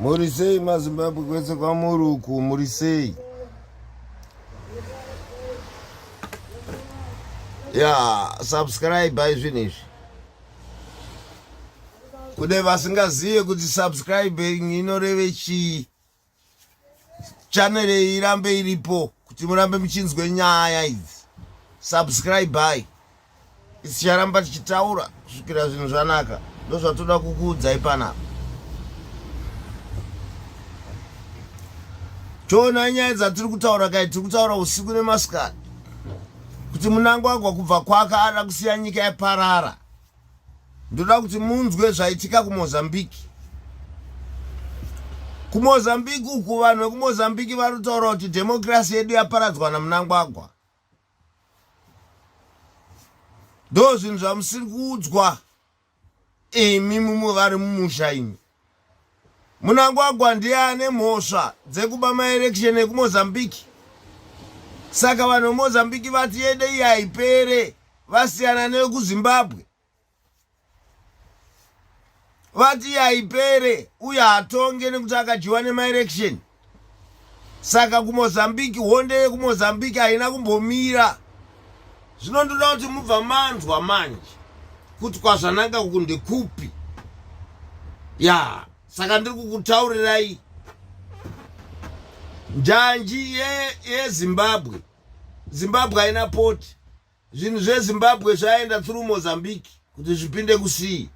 muri sei mazimbabwe kwese kwamuri uku muri sei ya subscribe izvinhu izvi kune vasingazive kuti subscribing inoreve chii channel iyi irambe iripo kuti murambe muchinzwe nyaya idzi subscribe by isicharamba tichitaura kusvikira zvinhu zvanaka ndozvatoda kukuudzai panapa choona nyaya dzatiri kutaura kai tiri kutaura usiku nemasikati kuti munangwagwa kubva kwaka ada kusiya nyika yaparara ndoda kuti munzwe zvaitika kumozambique kumozambique uku vanhu vekumozambique vari kutaura kuti dhemokirasi yedu yaparadzwa namunangwagwa ndo zvinhu zvamusiri kuudzwa imi mumwe vari mumusha imi Munangwagwa ndiye ane mhosva dzekuba maelection ekumozambique saka vanhu vemozambique vati yede iyi haipere vasiyana nekuzimbabwe vati iyi haipere uye hatonge nekuti akadyiwa nemaelection saka kumozambique honde yekumozambique haina kumbomira zvino ndoda kuti mubva manzwa manje kuti kwazvananga uku ndekupi ya saka ndiri kukutaurirai njanji yezimbabwe ye zimbabwe haina poti zvinhu zvezimbabwe zvaenda through mozambique kuti zvipinde kusii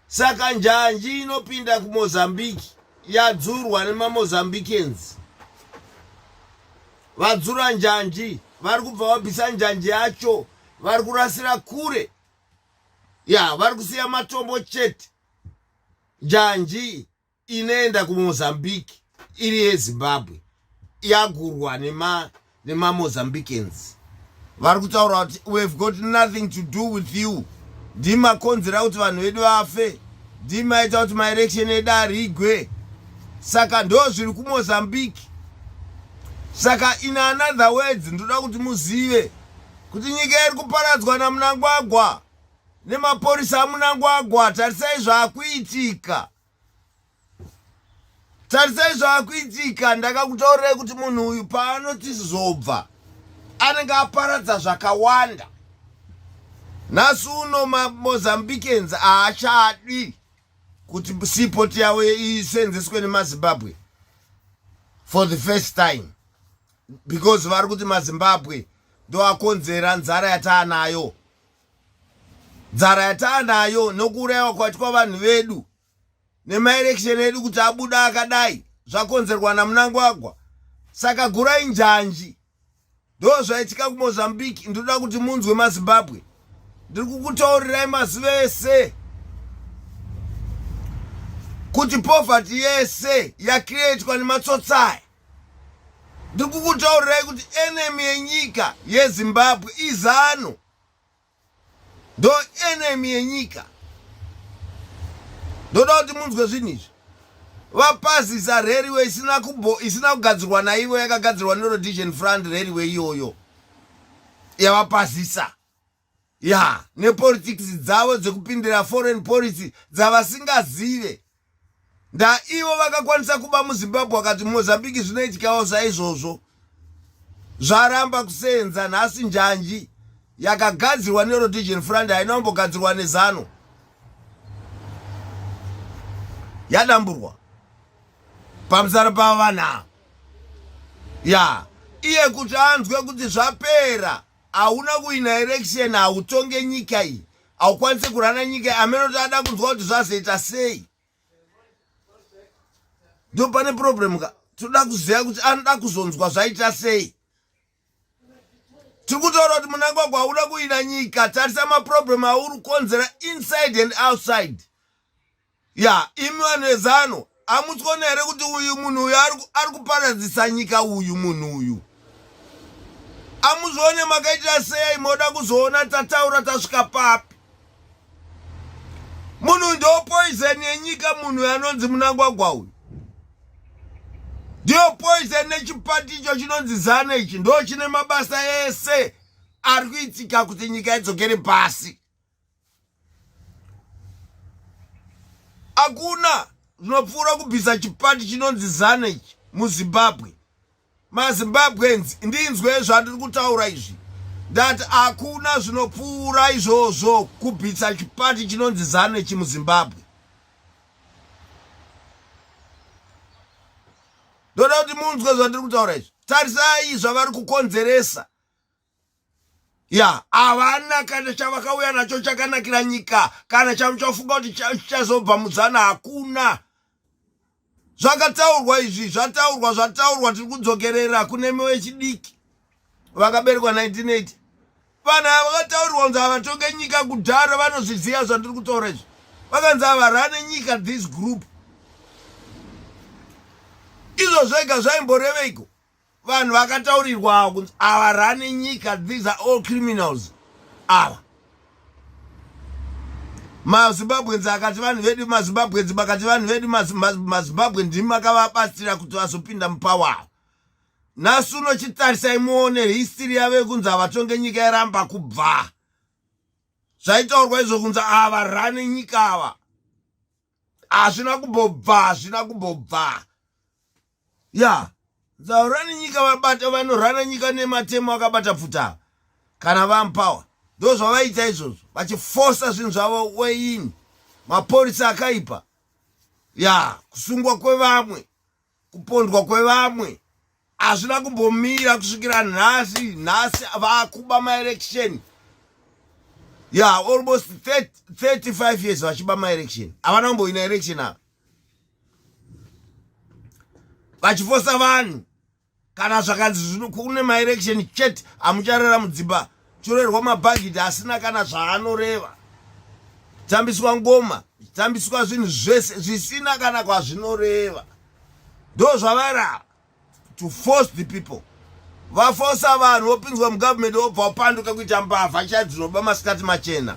saka njanji inopinda kumozambique yadzurwa nemamozambicans vadzura njanji vari kubva vabvisa njanji yacho vari kurasira kure ya vari kusiya matombo chete njanji inoenda kumozambique iri yezimbabwe yagurwa nemamozambicans nema vari kutaura kuti we have got nothing to do with you ndimakonzera kuti vanhu vedu vafe ndimaita kuti maelection edu arigwe saka ndo zviri kumozambique saka in another words ndoda kuti muzive kuti nyika iri kuparadzwa namunangwagwa nemapurisa amunangwagwa tarisai zvaakuitika tarisai zvaakuitika ndakakutaurai kuti munhu uyu paanoti zobva anenge aparadza zvakawanda nhasi uno mamozambicans haachadi kuti seaport yavo isenzeswe nemazimbabwe for the first time because vari kuti mazimbabwe ndoakonzera nzara yataanayo dzara yataanayo nokuurayiwa kwatwa vanhu vedu nemaerection edu kuti abuda akadai zvakonzerwa namunangwagwa saka gurai njanji ndo zvaitika kumozambique ndinoda kuti munzwe mazimbabwe ndiri kukutaurirai mazi vese kuti poverty yese yakreatwa nematsotsaya ndiri kukutaurirai kuti enemy yenyika yezimbabwe izano ndo enemy yenyika ndoda kuti munzwe zvinhu izvi vapazisa railway isina kubo isina kugadzirwa naivo yakagadzirwa nerodision front railway iyoyo yavapazisa ya nepolitics dzavo dzekupindira foreign policy dzavasingazive ndaivo vakakwanisa kuba muzimbabwe akati mozambique zvinoitikawo saizvozvo zvaramba kusenza nhasi njanji yakagadzirwa nerotigen frand haina kumbogadzirwa nezano yadamburwa pamusana pavo vanhu ava ya iye kuti anzwe kuti zvapera hauna kuina erection hautonge nyika iyi haukwanise kurana nyika amene kuti ada kunzwa kuti zvazoita sei ndo pane problem ka tinoda kuziva kuti anoda kuzonzwa zvaita sei tiri kutaura kuti munangwagwa hauda kuina nyika tarisa maproblem auri kukonzera inside and outside ya imi vanhu vezano amutsona here kuti uyu munhu uyu ari kuparadzisa nyika uyu munhu uyu amuzvione makaitira sei moda kuzoona tataura tasvika papi munhu ndo poison yenyika munhu uyu anonzi munangwagwa uyu ndiyo poison nechipati icho chinonzi zano ichi ndo chine mabasa ese ari kuitika kuti nyika idzokere pasi hakuna zvinopfuura kubvisa chipati chinonzi zana ichi muzimbabwe mazimbabweans ndinzwe zvandiri kutaura izvi ndati hakuna zvinopfuura izvozvo kubvisa chipati chinonzi zana ichi muzimbabwe ndoda kuti munzwe zvandiri kutaura izvi tarisai zvavari kukonzeresa ya havana kana chavakauya nacho chakanakira nyika kana chamuchafunga kuti chichazobva mudzana hakuna zvakataurwa izvi zvataurwa zvataurwa tiri kudzokerera kune mwe wechidiki vakaberekwa 1980 vanhu ava vakataurirwa kunzi havatonge nyika kudhara vanozviziva zvandiri kutaura izvi vakanzi havarane nyika this group izvo zvega zvaimboreveiko vanhu vakataurirwa ava kunzi ava rani nyika these are all criminals ava mazimbabwenzi akati vanhu vedu mazimbabwenzi makati vanhu vedu mazimbabwe ndimi makavabatsira kuti vazopinda mupawa ava nhasi uno chitarisai muone histiri yave kunzi havatonge nyika yaramba kubva zvaitaurwa izvo kunzi ava rani nyika ava hazvina kumbobva hazvina kumbobva ya zaurani nyika vabata vanorana nyika nematemo akabata pfuta kana vampawa ndo zvavaita izvozvo vachifosa zvinhu zvavo weini mapurisa akaipa ya kusungwa kwevamwe kupondwa kwevamwe hazvina kumbomira kusvikira nhasi nhasi vakuba maelection ya yeah, almost 30, 35 years vachiba maelection havana kumboina election ava vachifosa vanhu kana zvakanzi zvino kune maelection chete amucharara mudzimba chorerwa mabhagidhi asina kana zvaanoreva tambiswa ngoma tambiswa zvinhu zvese zvisina kana kwazvinoreva ndo zvavara to force the people vafosa vanhu vopinzwa mugovernment vobva wapanduka kuita mbavha chai dzinoba masikati machena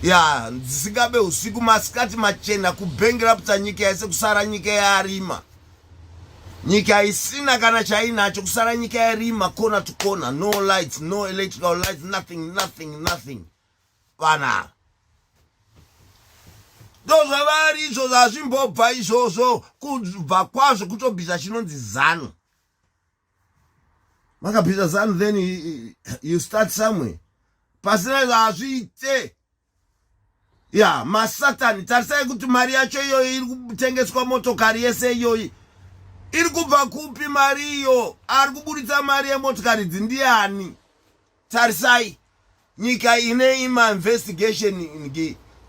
ya dzisingabe usiku masikati machena kubhengi raputsa nyika yese kusara nyika yarima nyika isina kana chainacho kusara nyika yarima kona to kona no lights no electrical lights nothing nothing nothing vana ndozvavari izvo zvazvimbobva izvozvo kubva kwazvo kutobvisa chinonzi zanu makabvisa zanu then you start somewhere pasina zvazviite ya masatani tarisai kuti mari yacho iyoyi iri kutengeswa motokari yese iyoyi iri kubva kupi mari iyo ari kuburitsa mari yemotokari idzi ndiani tarisai nyika ine ima investigation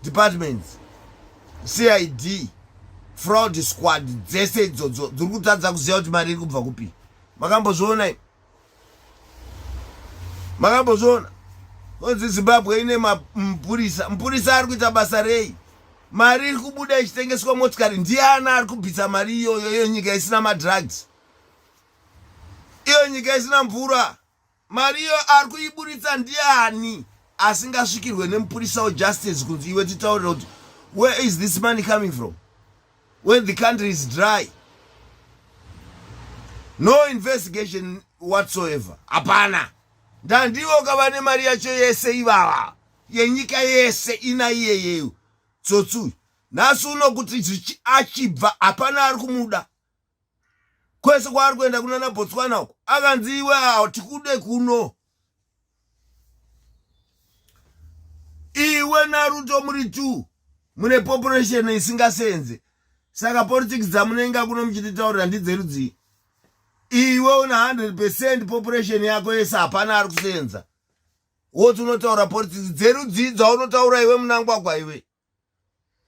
departments cid fraud squad dzese idzodzo dziri kutadza kuziva kuti mari iri kubva kupi makambozvionai makambozviona onzi zimbabwe ine mapurisa mupurisa ari kuita basa rei mari iri kubuda ichitengeswa motikari ndiani ari kubvisa mari iyoyo iyo nyika isina madrugs iyo nyika isina mvura mari iyo ari kuiburitsa ndiani asingasvikirwe nemupurisa wejustice kunzi iwe titaurira kuti where is this money coming from when the country is dry no investigation whatsoever hapana ndandivo kavane mari yacho yese ivava yenyika yese ina iyeyeyo tsotsi uyu nhasi uno kuti achibva hapana ari kumuda kwese kwaari kuenda kunana botswana uko akanzi iwe awo tikude kuno iwe naruto muri two mune population isingasenze saka politics dzamunenga kuno muchititaurira ndidzerudzii iwe una 100 percent population yako yese hapana ari kusenza woti unotaura politics dzerudzii dzaunotaura iwe munangwagwa iwe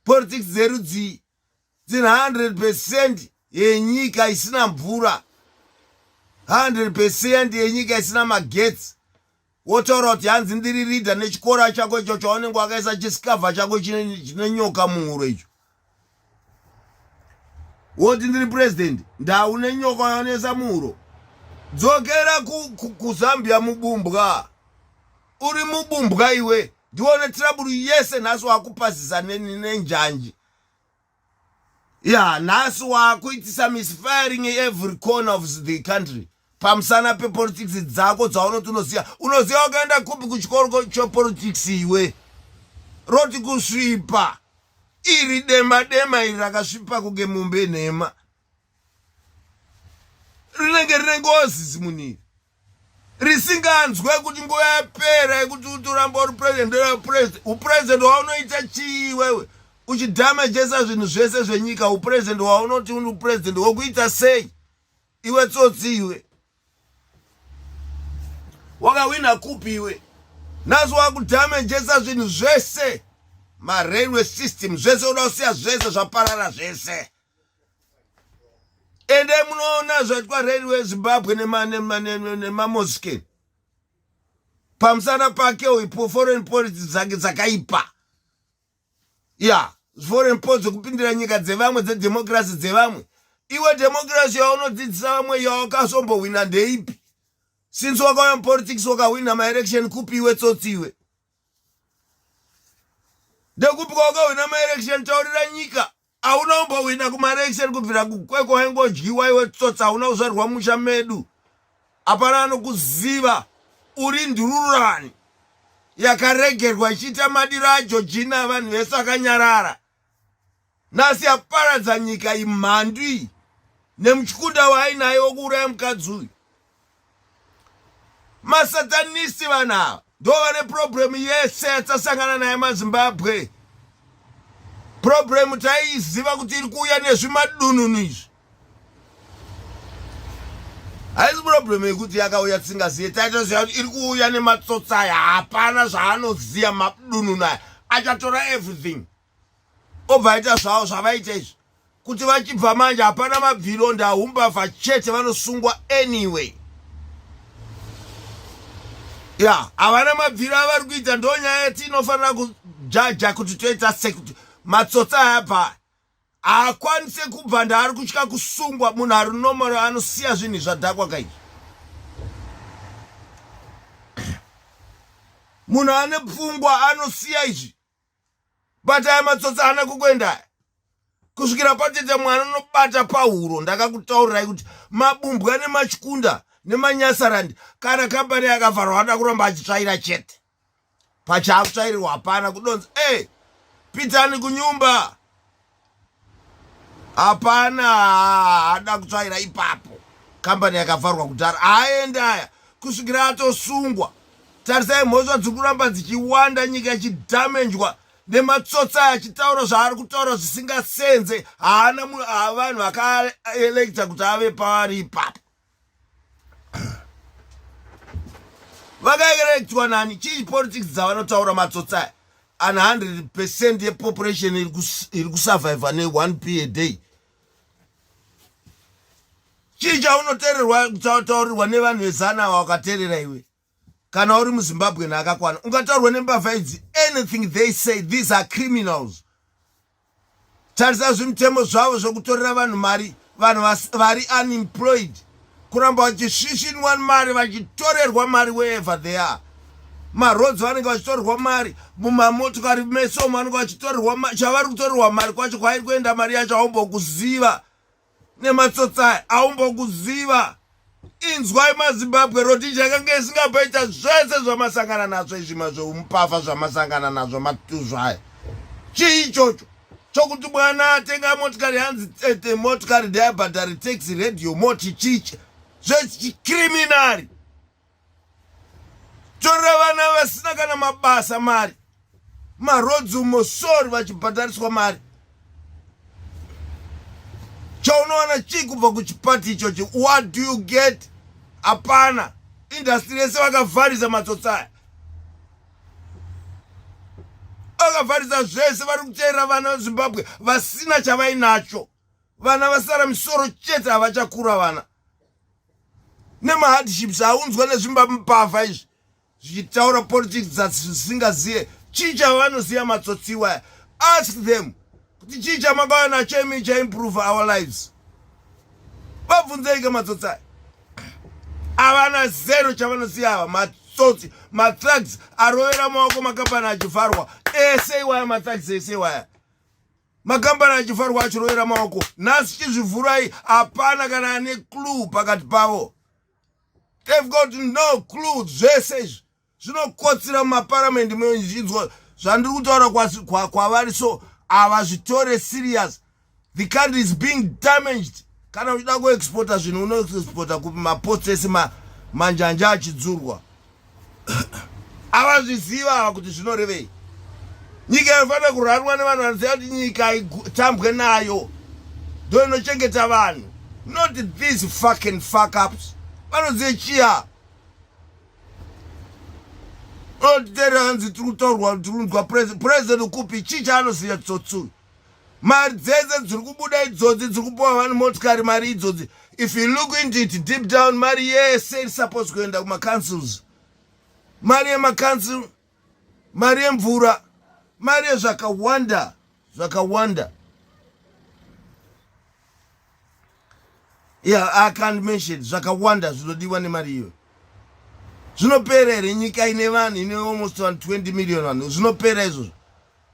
politics dzerudzii dziri 100 percent yenyika isina mvura 100 percent yenyika isina magetsi wotaura kuti hanzi ndiri ridha nechikora chako icho chaunenge wakaisa chisikavha chako chine nyoka muhuro icho woti ndiri purezidendi ndaune nyoka yaonesa muhuro dzokera kuzambia mubumbwa uri mubumbwa iwe ndione tiraburu yese nhasi wakupazisa nenjanji ya nhasi wakuitisa misfiring every corner of the country pamusana pepolitics dzako dzaunoti unoziva unoziva ukaenda kupi kuchikoro chepolitics iwe roti kusvipa iri dema dema iri rakasvipa kunge mumbe nhema rinenge rine ngozi zimunhu iri risinganzwe kuti nguva yapera yekuti utoramba uri president president upresident waunoita chii iwewe uchidamejesa zvinhu zvese zvenyika upresident waunoti uri president wokuita sei iwe tsotsi iwe wakawina kupi iwe nhasi wakudamejesa zvinhu zvese marailway system zvese uda kusiya zvese zvaparara zvese endai munoona zvaitwa railway zimbabwe nemamoske pamusana pake uipo foreign policy dzake dzakaipa ya foreign policy dzekupindira nyika dzevamwe dzedemokirasi dzevamwe iwe demokirasi yaunodzidzisa vamwe yawakazombohwina ndeipi since wakauya mupolitics wakahwina maerection kupi iwe tsotsiwe ndekupi kwawakahwina maelection taurira nyika hauna umbohwina kumaelection kubvira kukweko hengodyiwa iwe tsotsa hauna kuzvarwa musha medu hapana anokuziva uri ndururani yakaregerwa ichiita madiro ajo jina vanhu vese vakanyarara nhasi yaparadza nyika imhandu iyi nemuchikunda waainaye wokuuraya mukadzi uyu masatanisi vanhu ava ndo vane purobhuremu yese yatasangana naye mazimbabwe purobhuremu taiiziva kuti iri kuuya nezvimadununu izvi haisi problem yekuti yakauya tisingazive taitoziva kuti iri kuuya nematsotsi aya hapana zvaanoziva madununu aya achatora everything obva aita zvavo zvavaita izvi kuti vachibva manje hapana mabviro ndahumbavha chete vanosungwa anyway ya havana mabviro avari kuita ndonyaya yatinofanira kujaja kuti toita sekuti matsotsi aya bva haakwanise kubva ndaari kutya kusungwa munhu ari nomoro anosiya zvinhu zvadhakwa kai munhu ane pfungwa anosiya izvi bata aya matsotsi ana kukuenda kusvikira patete mwana unobata pahuro ndakakutaurirai kuti mabumbwa nemachikunda nemanyasarandi kana kambani yakavharwa anoda kuramba achitsvaira chete pachatsvairirwa hapana kudonza e eh, pitani kunyumba hapana haada kutsvaira ipapo kambani yakavharwa kudhara haaende aya kusvikira atosungwa tarisai mhosva dziri kuramba dzichiwanda nyika ichidhamenjwa nematsotsa achitaura zvaari kutaura zvisingasenze haana vanhu vakaelekta kuti ave paari ipapo vakaerektiwa nani chii politics dzavanotaura matsotsi aya an 100 percent yepopulation iri kusurviva ne1 p a day chii chaunotererwa chautaurirwa nevanhu vezana ava wakaterera iwe kana uri muzimbabwe naakakwana ungataurwa nembavha idzi anything they say these are criminals tarisa zvimitemo zvavo zvekutorera vanhu mari vanhu vari unemployed kuramba vachisvishinwa mari vachitorerwa mari wherever they are maroads vanenge vachitorerwa mari mumamotokari mesomo vanenge vachitorerwa mari chavari kutorerwa mari kwacho kwairi kuenda mari yacho haumbokuziva nematsotsi aya aumbokuziva inzwai mazimbabwe rhodesia yakange isingapaita zvese zvamasangana nazvo izvi mazveumpafa zvamasangana nazvo matuzvaya chii ichocho chokuti mwana atenga motikari hanzi tete motikari ndeyabhadhari taxi radio moti chichi zvechicriminari torera vana vasina kana mabasa mari marodzi umo sori vachibhadhariswa mari chaunowana chii kubva kuchipati ichochi what do you get hapana indastri yese vakavharisa matsotsaya vakavharisa zvese vari kuteera vana vezimbabwe vasina chavainacho vana vasara misoro chete havachakura vana nemahardships aunzwa nezvimba mupavha izvi zvichitaura politics dzatisingazive chii chavanoziva matsotsi iwaya ask them kuti chii chamakawana chemi chaimprove our lives vabvunzeike matsotsi aya havana zero chavanoziva ava matsotsi matrugs arovera maoko makapani achivharwa ese iwaya matrugs ese iwaya makambani achifarwa achiroyera maoko nhasi chizvivhurai hapana kana ane clue pakati pavo they've got no clue zvese izvi zvinokotsira mumaparamende mezvinzwa zvandiri kutaura kwavari so havazvitore serious the country is being damaged kana uchida kuexporta zvinhu unoexporta kupi mapots ese manjanja achidzurwa avazviziva ava kuti zvinorevei nyika inofanira kurarwa nevanhu vanoziva kuti nyika itambwe nayo ndo inochengeta vanhu not these fucking fuckups vanoziva chiya unotitera hanzi tiri kutaurwa tiri kunzwa president kupi chii chaanoziva tsotsuyu mari dzese dziri kubuda idzodzi dziri kupiwa vanhu motikari mari idzodzi if you look into it deep down mari yese iri supposed kuenda kumacouncils mari yemacouncil mari yemvura mari yezvakawanda zvakawanda yeah, i can't mention zvakawanda zvinodiwa nemari iyoyo zvinopera here nyika ine vanhu ine almost 20 million vanhu zvinopera izvozvo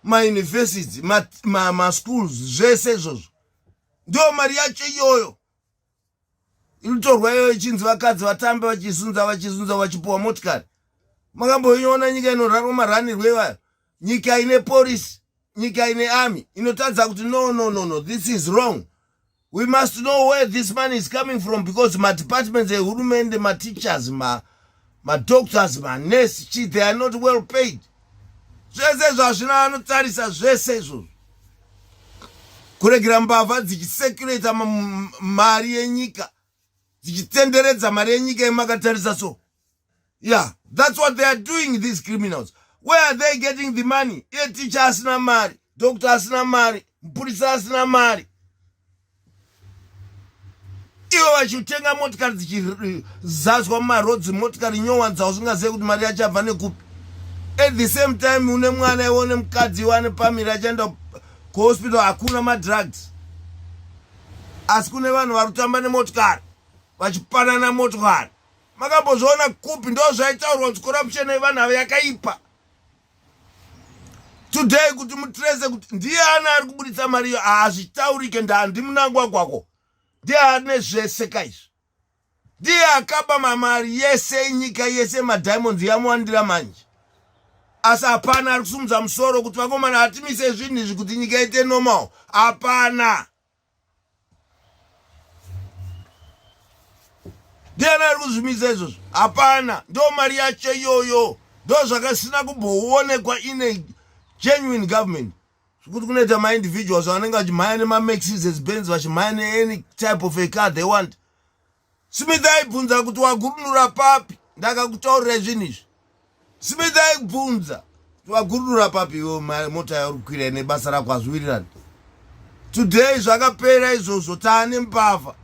mauniversity maschools ma, ma zvese izvozvo ndiyo mari yacho iyoyo inotorwa iyoyo ichinzi vakadzi vatambe vachizunza vachizunza vachipuwa motikari makamboiona nyika inorarwa maranirwo ivayo nyika ine porisi nyika ine army inotadza kuti no no no no this is wrong we must know where this money is coming from because madepartments ehurumende mateachers madoctors ma manurse chi they are not well paid zvese izvo hazvina vanotarisa zvese izvozvo kuregera mbavha dzichisekurata mari yenyika dzichitenderedza mari yenyika yemakatarisa so yeah that's what they are doing these criminals where are they getting the money iye ticha asina mari doctor asina mari mupurisa asina mari ivo vachitenga motikari dzichizazwa mumarodzi motikari nyowanza usingazive kuti mari yacho abva nekupi at the same time une mwana iwe une mukadzi iwe ane pamiri achaenda kuhospital hakuna madrugs asi kune vanhu vari kutamba nemotikari vachipanana motikari makambozviona kupi ndo zvaitaurwa kuti corruption yevanhu ava yakaipa today kuti mutrese kuti ndiye ani ari kuburitsa mari iyo hazvitaurike ndandi munangwagwako ndiye ane zvese kaizvi ndiye akaba mamari yese inyika yese madiamonds yamuwandira manje asi hapana ari kusumudza musoro kuti vakomana hatimise zvinhu izvi kuti nyika ite normal hapana ndiani ari kuzvimisa izvozvo hapana ndo mari yacho iyoyo ndo zvakasina kumboonekwa ine genuine government zvekuti kunoita maindividuals vanenge vachimhaya nemamaxis as bens vachimhaya neany type of a car they want Smith aibvunza kuti wagurunura papi ndakakutaurira zvinhu izvi Smith aibvunza kuti wagurunura papi iwo mota yauri kukwira ine basa rako hazviwirirani today zvakapera izvozvo taane mbavha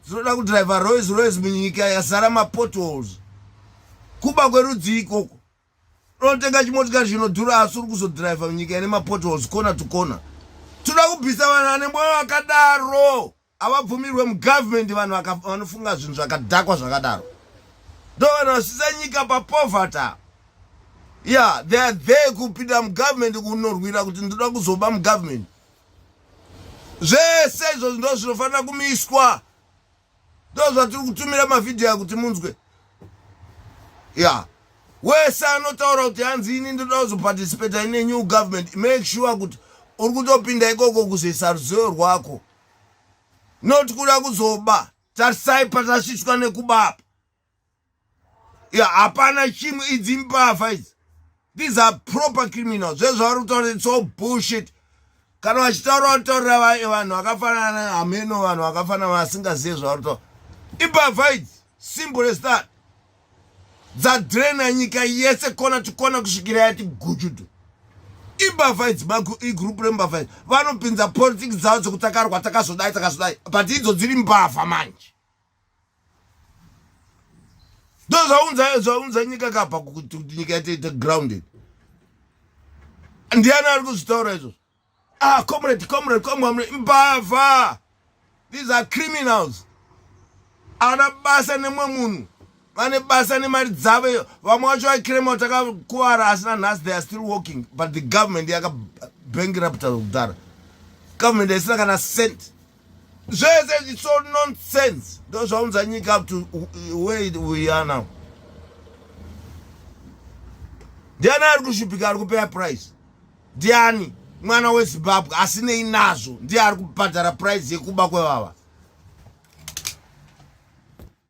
dzinoda kudriver roys roys munyika yazara mapotholes kuba kwerudzii ikoko unotenga chimotikari chinodhura asi uri kuzodriver munyika ine mapotholes kona to kona toda kubvisa vanhu vane mwoyo wakadaro avabvumirwe mugovernment vanhu vanofunga zvinhu zvakadhakwa zvakadaro ndo vanhu vasisa nyika papovata ya they are there kupinda mugovernment kunorwira kuti ndoda kuzoba mugovernment zvese izvo ndo zvinofanira kumiswa ndo zvatiri kutumira mavhidhiyo ya kuti munzwe ya wese anotaura kuti hanzi ini ndoda kuzoparticipata ine new government make sure kuti uri kutopinda ikoko kuzoisa ruzivo rwako not kuda kuzoba tarisai patasvitswa nekubapa ya hapana chimwe idzi mbavha idzi these are proper criminal zvezvavari kutaura its all bullshit kana vachitaura vataurira vanhu vakafanana hameno vanhu vakafanana vasingazive zvavari kutaura imbavha idzi simple as that dzadrena nyika yese kona tikona kusvikira yati gujudu imbavha idzi igroup rembavha idzi vanopinza politics dzavo dzekuti takarwa takazodai takazodai but idzo dziri mbavha manje ndo zvaunza zvaunza nyika kabva kuti nyika yataita grounded ndiani ari kuzvitaura izvozvo Ah, comrade, comrade, comrade, mbavha. These are criminals. Ana basa nemwe munhu. Vane basa nemari dzavo iyo. Vamwe wacho vakirema takakuvara asina nhasi they are still working but the government yaka bankrupt kudhara. Government isina kana cent. Zvese it's all nonsense. Ndo zvaunza nyika up to where we are now. Ndiani ari kushupika ari kupeya price? Ndiani mwana weZimbabwe asinei nazvo ndiye ari kubhadhara price yekuba kwevava.